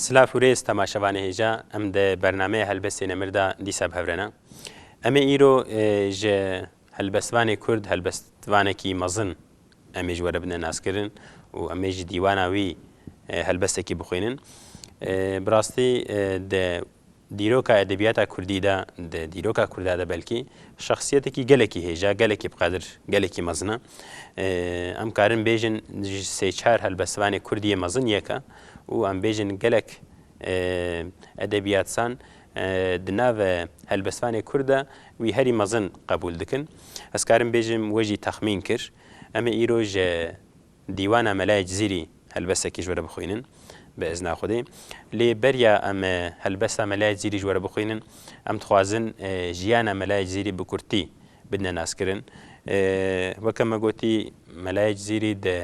Silav û rêz temaşevanê hêja em di bernameyê Helbestê Nemir de dîsa bi hev re ne. Em ê îro ji Helbestvanê Kurd helbestvanekî mezin em ê ji we re bidin naskirin û em ê ji dîwana wî helbestekî bixwînin. Bi rastî di dîroka edebiyata Kurdî de, di dîroka Kurda de belkî şexsiyetekî gelekî hêja, gelekî bi qedir, gelekî mezin e. Em karin bêjin ji sê çar helbestvanê Kurdî yê mezin yek e û em bêjin gelek edebiyatsan Di nava helbestvanê Kurd de wî herî mezin qebûl dikin. Ez karim bêjim we jî texmîn kir. Em ê îro ji Dîwana Mela Cizîrî helbestekî ji we re bixwînin bi izna Xwedê. Lê beriya em helbesta Mela Cizîrî ji we re bixwînin, em dixwazin jiyana Mela Cizîrî bi kurtî bidine naskirin. Weke me gotî Mela Cizîrî di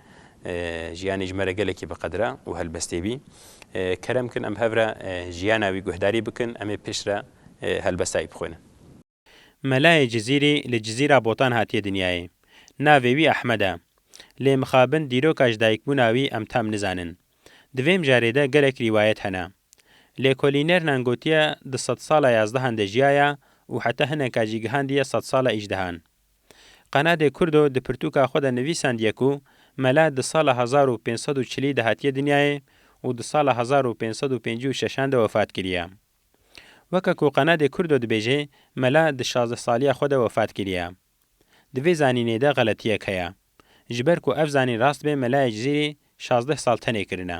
jiyanê ji me re gelekî bi qedir e û helbestê bî. Kerem bikin em hev re jiyana wî guhdarî bikin, em ê piştre helbesta wî bixwînin. Melayê Cizîrî li Cizîra Botan hatiye dinyayê. Navê wî Ehmed e. Lê mixabin dîroka ji dayikbûna wî em tam nizanin. Di vê mijarê de gelek rîwayet hene. Lêkolînernan gotiye di sedsala yazdehan de jiyaya û heta hineka jî gihandiye sedsala îjdehan. Qenadê Kurdo di pirtûka xwe de nivîsandiye ku mele di sala hezar û pênc sed û çilî de hatiye dinyayê û di sala hezar û pênc sed û pêncî û şeşan de wefat kiriye. Weke ku Qenadê Kurdo dibêje mele di şazdeh saliya xwe de wefat kiriye. Di vê zanînê de xeletiyek heye. Ji ber ku ev zanîn rast be mele Ecizîrî şazdeh sal tenê kirine.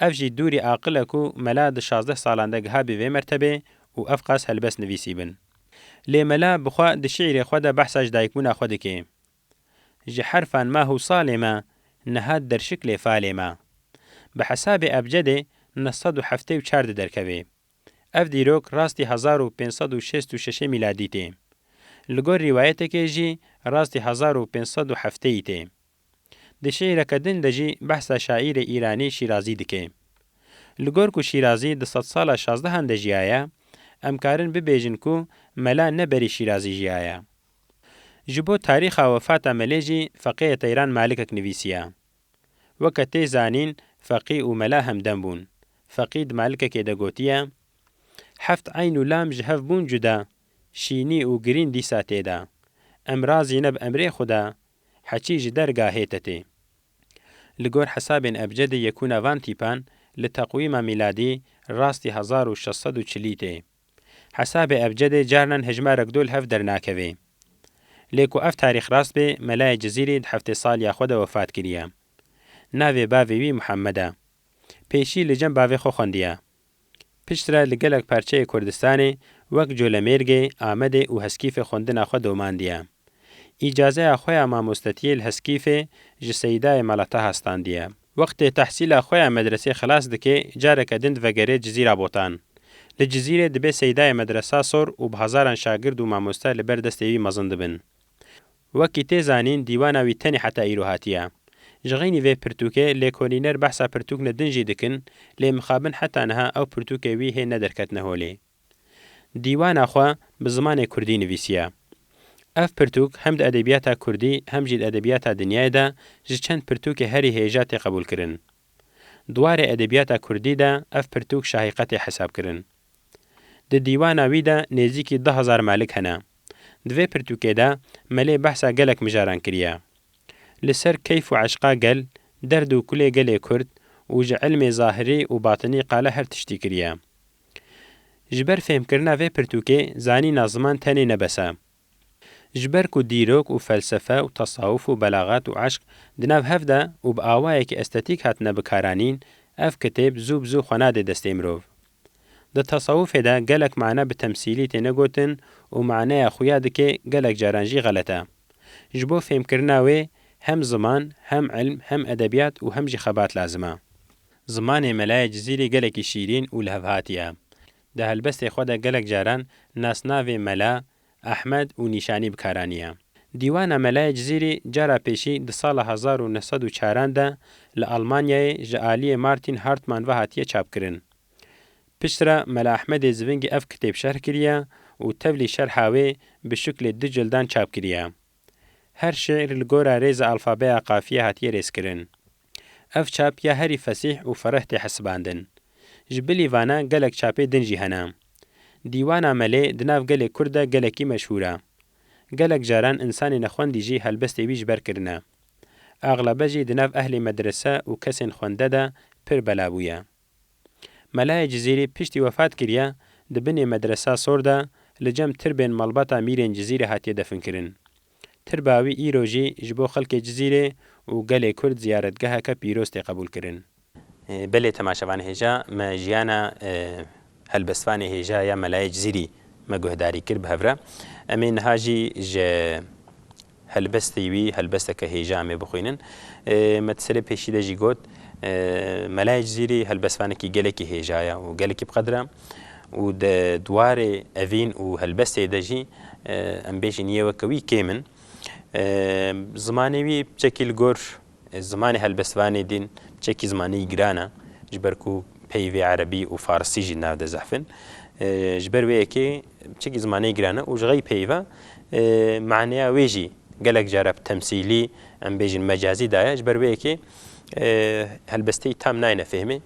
Ev jî dûrî aqil e ku mela di şazdeh salan de gihabî vê mertebê û ev qas helbest nivîsîbin. Lê mela bi xwe di şîîrê xwe de behsa ji dayikbûna xwe dike. Ji herfan ma hûsalê me, niha derşik lê falê me. Bi hesabê ebcedê neh sed û heftê û çar di derkevê. Ev dîrok rastî hezar û pênc sed û şêst û şeşê mîladî tê. Li gor rîwayetekê jî rastî hezar û pênc sed û hefteyî tê. Di şîîreke din de jî behsa şaîrê Îranî Şîrazî dike. Li gor ku Şîrazî di sedsala şazdehan de jiyaye, em karin bibêjin ku mela ne berî Şîrazî jiyaye. Ji bo tarîxa wefata melê jî feqêyê Teyran Malikek nivîsiye. Weke tê zanîn feqî û mela hemdem bûn. Feqî di malikekê de gotiye, Heft eyn û lam ji hev bûn cuda, şînî û girîn dîsa tê de. Em razî ne bi emrê xwe de Heçî ji dergahê te tê. Li gor hesabên ebcedê yekûna van tîpan li teqwîma mîladî rastî hezar û şeş sed û çilî tê. Hesabê ebcedê carinan hejmarek do li hev dernakevê. Lê ku ev tarîx rast bê Melayê Cizîrî di heftê saliya xwe de wefat kiriye. Navê bavê wî Muhammed e. Pêşî li cem bavê xwe xwendiye. Piştre li gelek parçeyê Kurdistanê wek Colemêrgê, Amedê û Heskîfê xwendina xwe domandiye. Îcazeya xwe ya mamostetiyê li Heskîfê ji Seyîdayê Mala Taha standiye. Wextê tehsîla xwe ya medresê xilas dike careke din divegerê Cizîra Botan. Li Cizîrê dibe Seyîdayê Medresa sor û bi hezaran şagird û mamoste li ber destê wî mezin dibin. Wekî tê zanîn dîwana wî tenê heta îro hatiye. Ji xeynî vê pirtûkê lêkolîner behsa pirtûkne din jî dikin lê mixabin heta niha ew pirtûkê wî hê nederketine holê. Dîwana xwe bi zimanê kurdî nivîsiye. Ev pirtûk hem di edebiyata kurdî hem jî di edebiyata dinyayê de ji çend pirtûkê herî hêja tê qebûlkirin. Di warê edebiyata kurdî de ev pirtûk şahîqetê hesabkirin. Di dîwana wî de nêzîkî du hezar melik hene. Di vê pirtûkê de Melê behsa gelek mijaran kiriye. Li ser keyf û eşqa gel, derd û kulê gelê Kurd û ji ilmê zahirî û batinî qala her tiştî kiriye. Ji ber fêhmkirina vê pirtûkê zanîna ziman tenê ne bes e. Ji ber ku dîrok û felsefe û tesawuf û belaxet û eşq di nav hev de û bi awayekî estetîk hatine bikaranîn, ev kitêb zû bi zû xwe nade destê mirov. Di tesawufê de gelek mane bi temsîlî têne gotin û maneya xuya dikê gelek caran jî xelet e. Ji bo fêmkirina wê hem ziman, hem ilm, hem edebiyat û hem jî xebat lazim e. Zimanê Melaye Cizîrî gelekî şîrîn û lihevhatî ye. Di helbestê xwe de gelek caran nasnavê Mela, Ahmed û Nîşanî bi kar aniye. Dîwana Melayê Cizîrî cara pêşî di sala hezar û neh sed û çaran de li Almanyayê ji aliyê Martin Hartmann ve hatiye çapkirin. Piştre Mela Ahmedê Zivingî ev kitêb şerh kiriye û tevlî şerha wê bi şiklê du cildan çap kiriye. Her şîîr li gora rêza alfabeya qafiyê hatiye rêzkirin. Ev çap ya herî fesîh û fereh tê hesibandin. Ji bilî vana gelek çapê din jî hene. Dîwana Melê di nav gelê Kurd de gelekî meşhûr e. Gelek caran însanê nexwendî jî helbestê wî ji ber kirine. Axlebe jî di nav ehlê medrese û kesên xwende de pir bela bûye. Melayê Cizîrî piştî wefat kiriye di binê Medresa Sor de li cem tirbên malbata mîrên Cizîrê hatiye definkirin. Tirba wî îro jî ji bo xelkê Cizîrê û gelê Kurd ziyaretgeheke pîroz tê qebûlkirin. Belê temaşevan hêja me jiyana helbestvanê hêja ya Melayê Cizîrî me guhdarî kir bi hev re. Em ê niha jî ji Helbestî wî helbesteke hêja em ê bixwînin. Me ti serê pêşî de jî got, Melayê Cizîrî helbestvanekî gelekî hêja ye û gelekî bi qedir e û di dwarê evîn û helbestê de jî em bêjin yê weke wî kêm in. Zimanê wî bi çekî li gor Zimanê helbestvanê din çekî zimanî giran e, ji ber ku peyvê erebî û farsî jî navde zehf in. Ji ber wê yekê çekî zimanî giran e û ji xey peyv e. Maneya wê jî gelek care bi temsîlî, em bêjin mecazî da ye. Ji ber wê yekê helbesteyî tam nayêne fêhmê.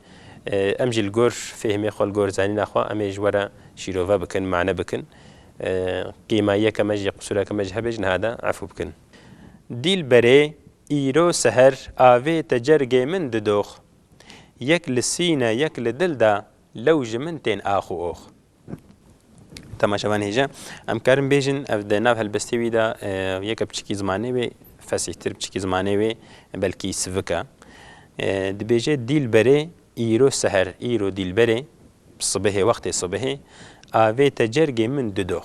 Em jî li gor fêhmê xwe, li gor zanîna xwe em ê ji we re şîrove bikin, mane bikin. Qîma yeke me jî, qisûreke me jî hebe jî niha de efû bikin. Dîlberê, îro seher avê tecergê min didox. Yek li sîne yek li dil de lew ji min tên ax û ox. Temaşe van hêja. Em karin bêjin ev di nav helbestê wî de yeke biçikî zimanê wê fesîhtir, biçikî zimanê wê belkî sivik e. Dibêje Dîlberê, îro seher, îro dîlberê, sibehê wextê sibehê, avê tecergê min didox.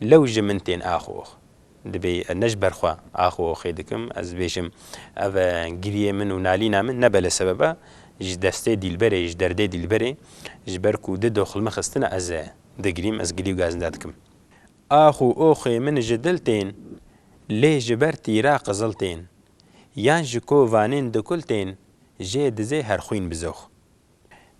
Lew ji min tên axox. Dibê ez ne ji ber xwe axoxê dikim, ez bêjim ev e giriyê min û nalîna min nebe li sebeba ji destê dîlberê, ji derdê dîlberê, ji ber ku di doxilme xistina ez e digirîm, ez gilî û gazinda dikim. Ax û oxê min ji dil tên, lê ji ber tîra qizil tên, yan ji kovanên dikul tên, jê dizê her xwîn bizox.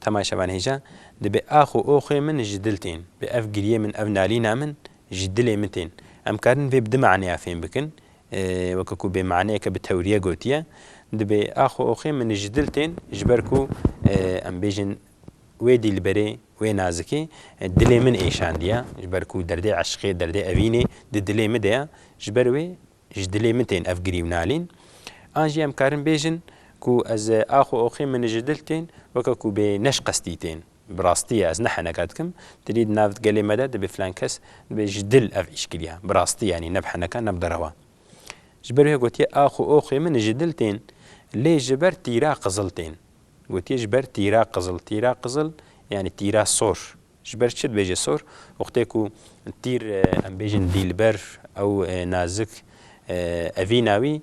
Temay Şaban Hêja, Dibe ax û oxê min ji dil tên. Bi ev giriyê min, ev nalîna min ji dilê min tên. Em karin vê bi du maneya fêm bikin. Weke ku bê maneyeke bi tewriye gotiye, Dibe ax û oxê min ji dil tên ji ber ku em bêjin wê dîlberê, wê nazikê dilê min êşandiye. Ji ber ku derdê eşqê, derdê evînê di dilê min de ye. Ji ber wê Ji dilê min tên ev girîwnalîn. An jî em karin bêjin ku ez ax û oxê min ji dil tên, weke ku bê neşqestî tên. Bi rastî ye ez ne heneka dikim. Tu dî di nav gelê me de dibê filan kes dibê ji dil ev îş kiriya. Bi rastî yanî ne bi heneka ne bi derewa. Ji ber wê gotiye ax û oxê min ji dil tên lê ji ber tîra qizil tên. Gotiye ji ber tîra qizil. Tîra qizil yanî tîra sor. Ji ber çi dibêje sor? Wextê ku tîr em bêjin dîlber ew nazik evîna wî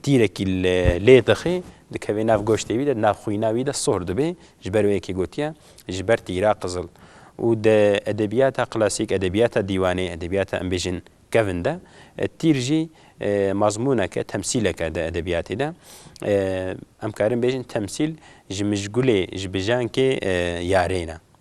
tîrekî li lê dixê dikeve nav goştê wî de di nav xwîna wî de sor dibê ji ber wê yekê gotiye ji ber tîra qizil û di edebiyata klasîk edebiyata dîwanê edebiyata em bêjin kevin de tîr jî mazmûneke temsîleke di edebiyatê de em karin bêjin temsîl ji mijgulê ji bijankê yarê ne.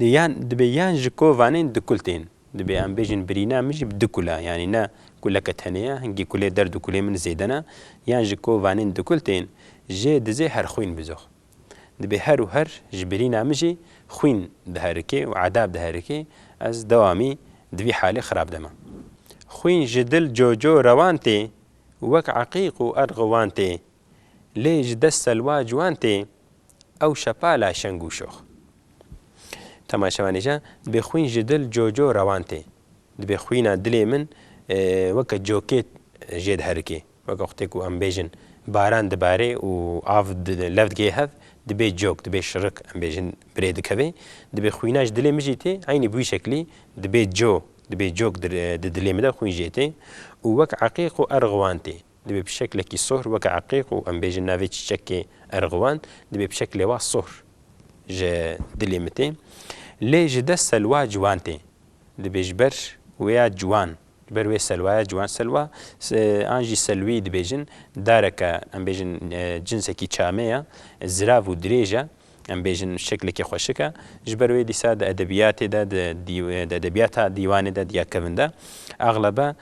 Dê yan dibê yan ji kovanên du kul tên. Dibê em bêjin birîna min jî bi du kul e. Yanî ne kuleke tenê ye, hingî kulê derd û kulê min zêde ne. Yan ji kovanên du kul tên, jê dizê her xwîn bizox. Dibê her û her ji birîna min jî xwîn diherikê û edab diherikê, ez dewamî di vî halê xirab de me. Xwîn ji dil coco rewan tê, wek eqîq û erxuwan tê. Lê ji dest selwa ciwan tê, Ew şepa la şeng û şox. Temaşevanêja dibê xwîn ji dil co co rewan tê. Dibê xwîna dilê min weke cokê jê diherikê. Weke xwitê ku em bêjin baran dibarê û av lev digihê hev, dibê cok, dibê şirik em bêjin birê dikevê. Dibê xwîna ji dilê min jî tê eynî bi wî şeklî dibê co, dibê cok di dilê min de xwîn jê tê û wek eqîq û erg wan tê. Divê bi şeklekî sohr weke eqîq û em bêjin navê çîçekê Erguvan divê bi şeklê wa sohr ji dilê min tê. Lê ji dest Selwa ciwan tê. Divê ji ber wêya ciwan, ji ber wê Selwaya ciwan, Selwa an jî Selwî dibêjin, dareke em bêjin cinsekî çame ye, zirav û dirêj e, em bêjin şeklekî xweşik e. Ji ber wê dîsa di edebiyatê de, di edebiyata dîwanê de diya kevin de. Exlebe.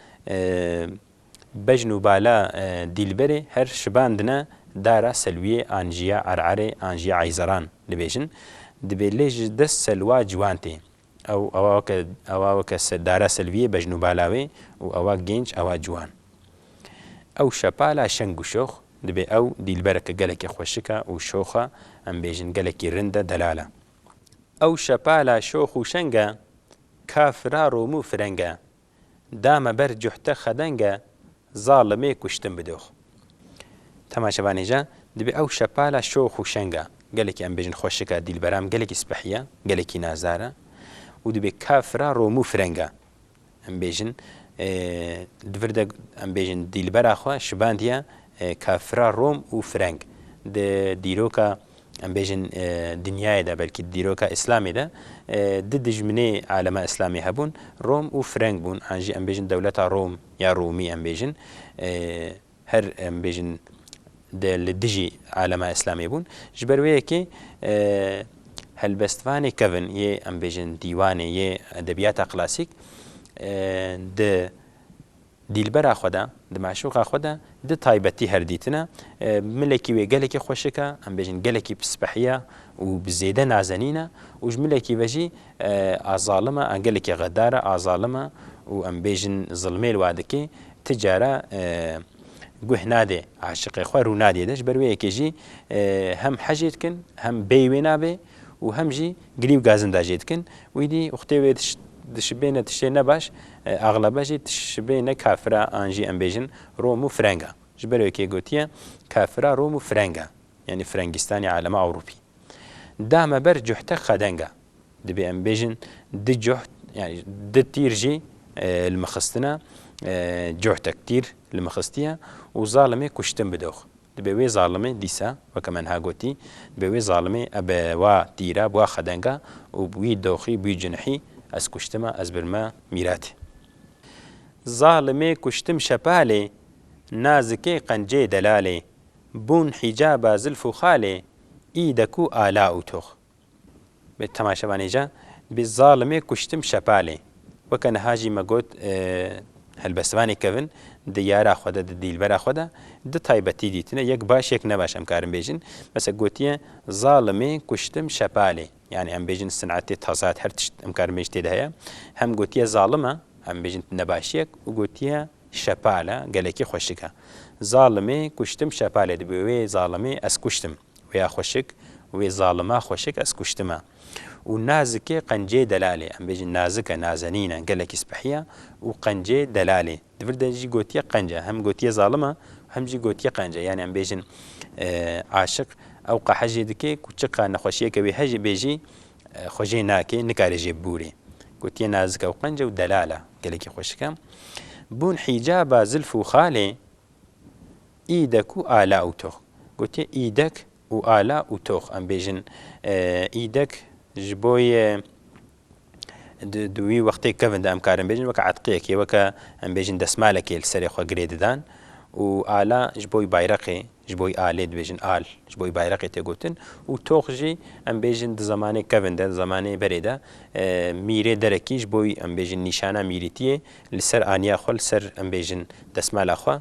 Bejn û bala Dîlberê her şibandine dara Selwiyê an jî ya Ererê an jî ya Eyzeran dibêjin. Dibê lê ji dest Selwa ciwan tê. Ew ewa weke ewa weke dara Selwiyê bejn û bala wê û ewa gênc ewa ciwan. Ew şepala şeng û şox dibê ew Dîlbereke gelekî xweşik e û şox e em bêjin gelekî rind e delal e. Ew şepala şox û şeng e ka fira romû fireng e da me ber cuhte xedenge zalimê kuştin bi dox. Tema şevanêja dibê ew şepala şox û şeng a, gelekî em bêjin xweşik a dîlberam gelekî spehî ya, gelekî nazar a û dibê kafir a romû fireng a. Em bêjin di vir de em bêjin dîlbera xwe şibandiya kafira rom û fireng. Di dîroka em bêjin dinyayê de belkî di dîroka îslamê de du dijminê alema îslamê hebûn, Rom û Freng bûn an jî em bêjin dewleta Rom ya Romî em bêjin her em bêjin di li dijî alema îslamê bûn. Ji ber wê yekê helbestvanê kevin yê em bêjin dîwanê yê edebiyata klasîk di Dîlbera xwe de, di meşûqa xwe de di taybetî her dîtine. Milekî wê gelekî xweşik e, em bêjin gelekî pispehî ye û bi zêde nazenîn e û ji milekî ve jî a zalim e, a gelekî xedar e, a zalim e û em bêjin zilmê li we dike, ti care guh nade aşiqê xwe, rû nade de. Ji ber wê yekê jî hem hecê dikin, hem bêyî wê nabe û hem jî. Girî û gazinda jê dikin. Wî dî uxtê wê dişibêne tiştê ne baş, axlebe jî dişibêne kafira an jî em bêjin Rom û firenga. Ji ber wekê gotiye kafira Rom û firenga yanî firengîstanê alema ewropî. Da me ber cuhte xedenga. Dibê em bêjin di cuht yanî di tîr jî li min xistina, cuhtek tîr li min xistiye û zalimê kuştin bi dox. Dibe wê zalimê dîsa, weke me niha gotî, dibe wê zalimê e bi wa tîra, bi wa xedenga û bi wî doxî, bi wî cinihî, ez kuştime, ez birime mîratê. Zalimê kuştim şepalê, nazikê qencê delalê, bûn hîcaba zilf û xalê, î de kû ala û tox. Bê tema şevanêja, dibê zalimê kuştim şepalê. Weke niha jî me got helbestvanê kevin di yara xwe de, di dîlbera xwe de du taybetî dîtine, yek baş yek nebaş em karin bêjin. Mesela gotiye zalimê kuştim şepalê. Yanî em bêjin sinetê tezat her tişt em karin bêjin tê de heye. Hem gotiye zalim e, em bêjin nebaşiyek û gotiye şepal e, gelekî xweşik e. Zalimê kuştim şepalê dibê wê zalimê ez kuştim. Wê ya xweşik, wê zalima xweşik ez kuştime. Û nazikê qenceyê delalê, em bêjin nazik e, nazenîn e, gelekî spehî ye û qenceyê delalê. Di vir de jî gotiye qenc e, hem gotiye zalim e û hem jî gotiye qenc e. Yanî em bêjin aşiq ew qehe jê dike ku çi qehe nexweşiyeke wê heye bê jî xwe jê nake, nikare jê bibûrê. Gotiye nazik e û qenc e û delal e, gelekî xweşik e. Bûn hîcaba zilf û xalê. Îdek û ala û tox. Gotiye îdek û ala û tox. Em bêjin îdek ji bo yê di di wî wextê kevin de em karin bêjin weke etqiyekê weke em bêjin desmalekê li serê xwe girê didan û ala ji bo bayreqê ji bo alê dibêjin al ji bo bayreqê tê gotin û tox jî em bêjin di zemanê kevin de di zemanê berê de mîrê derekî ji bo em bêjin nîşana mîrîtiyê li ser aniya xwe li ser em bêjin desmala xwe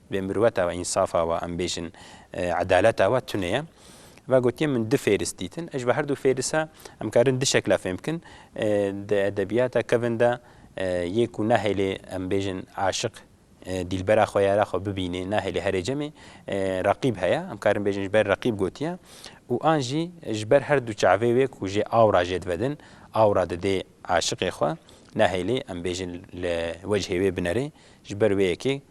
Vê mirweta we, însafa we, em bêjin edaleta we tune ye. Ve gotiye min du fêris dîtin. Ji ber her du fêrisa em karin du şekla fêm bikin. Di edebiyata kevin de yê ku nahêlê em bêjin aşiq dîlbera xwe ya re xwe bibînê nahêlê herê cemê reqîb heye. Em karin bêjin ji ber reqîb gotiye û an jî ji ber her du çavê wê ku jê aw ra jê divedin, aw ra didê aşiqê xwe. Nahêlê em bêjin li wecihê wê binerê ji ber wê yekê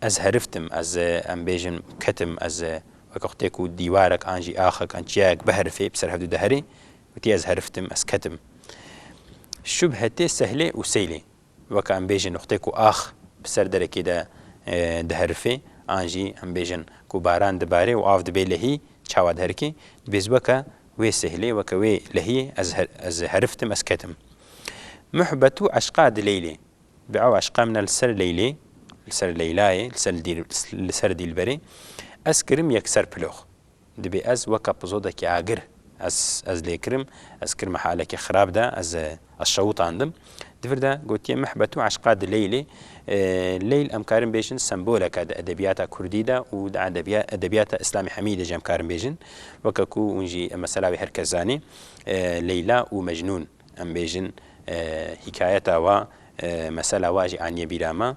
Ez heriftim, ez, em bêjin, ketim, ez, weke xwe tê ku dîwarek an jî axek an çiyayek biherifê, bi ser hevdû diherê, witî ez heriftim, ez ketim. Şubhe tê sehlê û seylê. Weke em bêjin, xwe tê ku ax bi ser derekê de diherifê, an jî em bêjin, ku baran dibare û av dibe lehî, çawa diherike, dibêz weke wê sehlê, weke wê lehiyê ez, ez heriftim, ez ketim. Muhbetû eşqa di leylê, Bi ew eşqa min e li ser Leylê, li ser Leylayê, li ser li ser Dîlberê, ez kirim yekser pilox. Dibê ez wek epizodekî agir ez ez lê kirim, ez kirime halekî xirab de, ez ez şewtandim. Di vir de gotiye mehbet û eşqa di Leylê. Leyl em karin bêjin sembolek e di edebiyata kurdî de û di edebiya edebiyata Îslamî hemî de jî em karin bêjin. Weke ku hûn jî mesela wî her kes zanî Leyla û Mecnûn. Em bêjin hîkayeta wa, mesela wa jî aniye bîra me.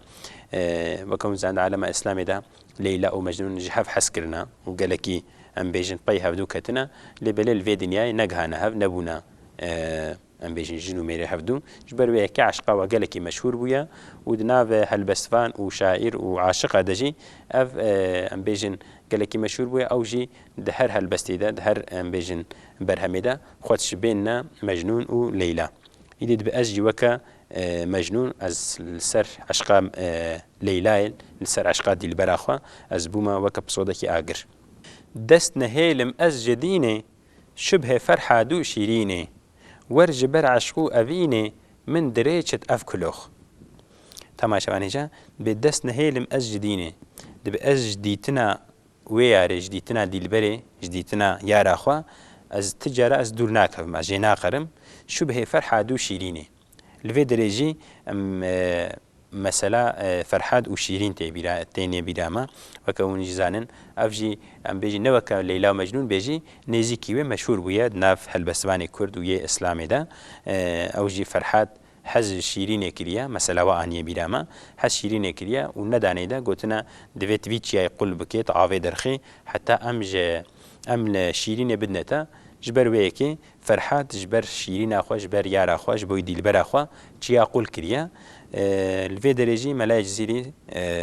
Wek hûn zend alema îslamê de Leyla û Mecnûn ji hev hez kirine û gelekî em bêjin pey hevdû ketine lê belê li vê dinyayê negihane hev, nebûne em bêjin jin û mêrê hevdû. Ji ber wê ye ke eşqa wa gelekî meşhûr bûye û di nav helbestvan û şaîr û aşiqa de jî ev em bêjin gelekî meşhûr bûye. Ew jî di her helbestê de, di her em bêjin berhemê de Xwe diş bênine Mecnûn û Leyla. Îdî dibe ez jî weke Mecnûn ez li ser eşqa Leylayê li ser eşqa dîlbera xwe ez bûme weke pisodekî agir. Dest nehêlim ez ji dînê şubhê ferha dû şîrînê wer ji ber eşqû evînê min dirê çit ev kulox. Temaşevanê ca dibê dest nehêlim ez ji dînê. Dibe ez ji dîtina Wê yarê ji dîtina dîlberê, ji dîtina yara xwe ez ti cara ez dûr nakevim, ez jê naqerim. Şubhê Ferhad û Şîrînê. Li vê derê jî em mesela Ferhad û Şîrîn tê bîra tê nê bîra me. Weke hûn jî zanin ev jî em bêjî ne weke Leyla û Mecnûn bê jî nêzîkî wê meşhûr bûye di nav helbestvanê kurd û yê îslamê de. Ew jî Ferhad Hez şîrînê kiriye, mesela we aniye bîra me, hez şîrînê kiriye û ne daneyî de gotine divê tu vî çiyayê qul bikê, tu avê dirxî heta em ji em li şîrînê bidine te. Ji ber wê yekê Ferhat ji ber şîrîna xwe, ji ber yara xwe, ji bo dîlbera xwe çiya qul kiriye. Li vê derê jî melayê Cizîrî,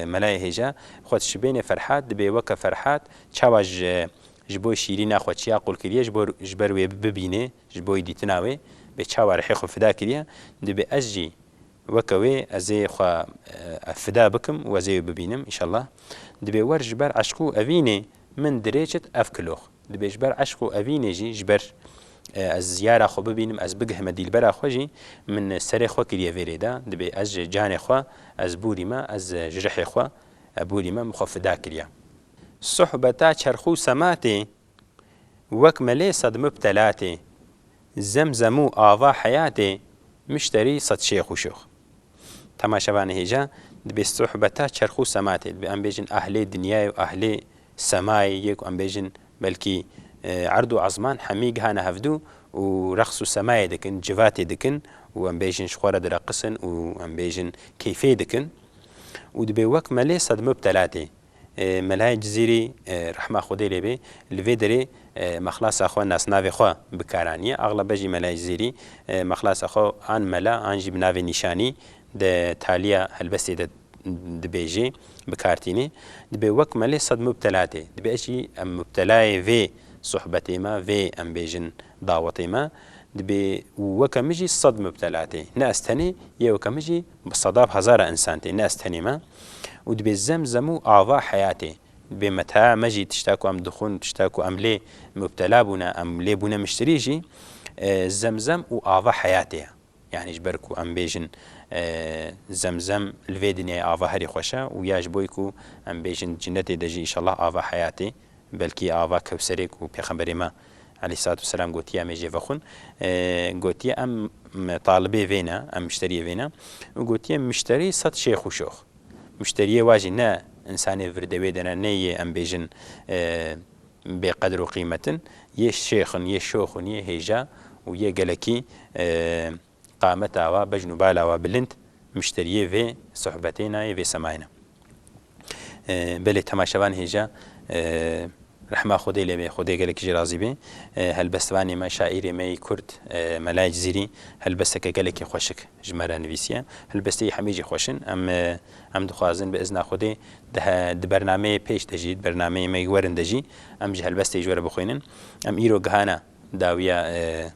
melayê hêja xwe dişibênê Ferhat, dibê weke Ferhat çawa ji ji bo şîrîna xwe çiya qul kiriye ji bo ji ber wê bibînê, Ji bo dîtina wê bê çawa rihê xwe fida kiriye, dibê ez jî weke wê ez ê xwe fida bikim û ez ê wê bibînim înşallah. Dibê wer ji ber eşq û evînê min dirêçit ev kilox. Dibê ji ber eşq û evînê jî ji ber ez yara xwe bibînim, ez bigihime dîlbera xwe jî min serê xwe kiriye vê rê de. Dibê ez ji canê xwe ez bûrîme, ez ji rihê xwe bûrîme min xwe fida kiriye. Sohbeta çerx û sema tê Wek melê sed mubtelatê. Zem zemû ava heyatê, muşterî sed şêx û şûx. Temaşevanê hêja, dibê sohbeta çerx û sema tê. Dibê em bêjin ehlê dinyayê û ehlê semayê yê ku em bêjin belkî erd û ezman hemî gihane hevdû û reqs û semayê dikin, civatê dikin û em bêjin ji xwe re direqisin û em bêjin keyfê dikin û dibê wek melê sed mubtelatê. Melayê Cizîrî rehma Xwedê lê bê li vê derê mexlasa xwe nasnavê xwe bi kar aniye. Axlebe jî Melayê Cizîrî mexlasa xwe an Mela an jî bi navê nîşanî di taliya helbestê de dibêjê bi kar tînê. Dibê wek me lê sed mubtela tê. Dibê ez jî em mubtelayê vê sohbetê me, vê em bêjin dawetê me dibê û weke min jî sed mubtela tê. Ne ez tenê yê weke min jî Bi sedaf hezara însan tê, ne ez tenê me û dibê zem zem û ava heyatê dibê me taya me jî tişta ku em dixwin, tişta ku em lê mubtela bûne, em lê bûne miştirî jî zem zem û ava heyatê ye. Yanî ji ber ku em bêjin zem zem li vê dinyayê ava herî xweş e û ya ji bo ku em bêjin di cinetê de jî înşellah ava heyatê Belkî ava Kewserê ku Pêxemberê me Eleyhisselatu Vesselam gotiye em ê jê vexwin, gotiye em talibê vê ne, em mişteriyê vê ne û gotiye mişterî sed şêx û şox. Mişteriyê wa jî ne însanê virdewê de ne, nê yê em bêjin bêqedir û qîmet in, yê şêx in, yê şox in, yê hêja û yê gelekî qameta we, bejn û bala we bilind mişteriyê vê sohbetê na yê vê semayê na. Belê temaşevan hêja rehma Xwedê lê bê, Xwedê gelek jî razî bê. Helbestvanê me, şaîrê me yê Kurd Melayê Cizîrî helbesteke gelekî xweşik ji me re nivîsiye. Helbestê yê hemî jî xweş in. Em em dixwazin bi izna Xwedê di he di bernameyê pêş de jî, di bernameyê me yê werin de jî em ji helbestê ji we re bixwînin. Em îro gihana dawiya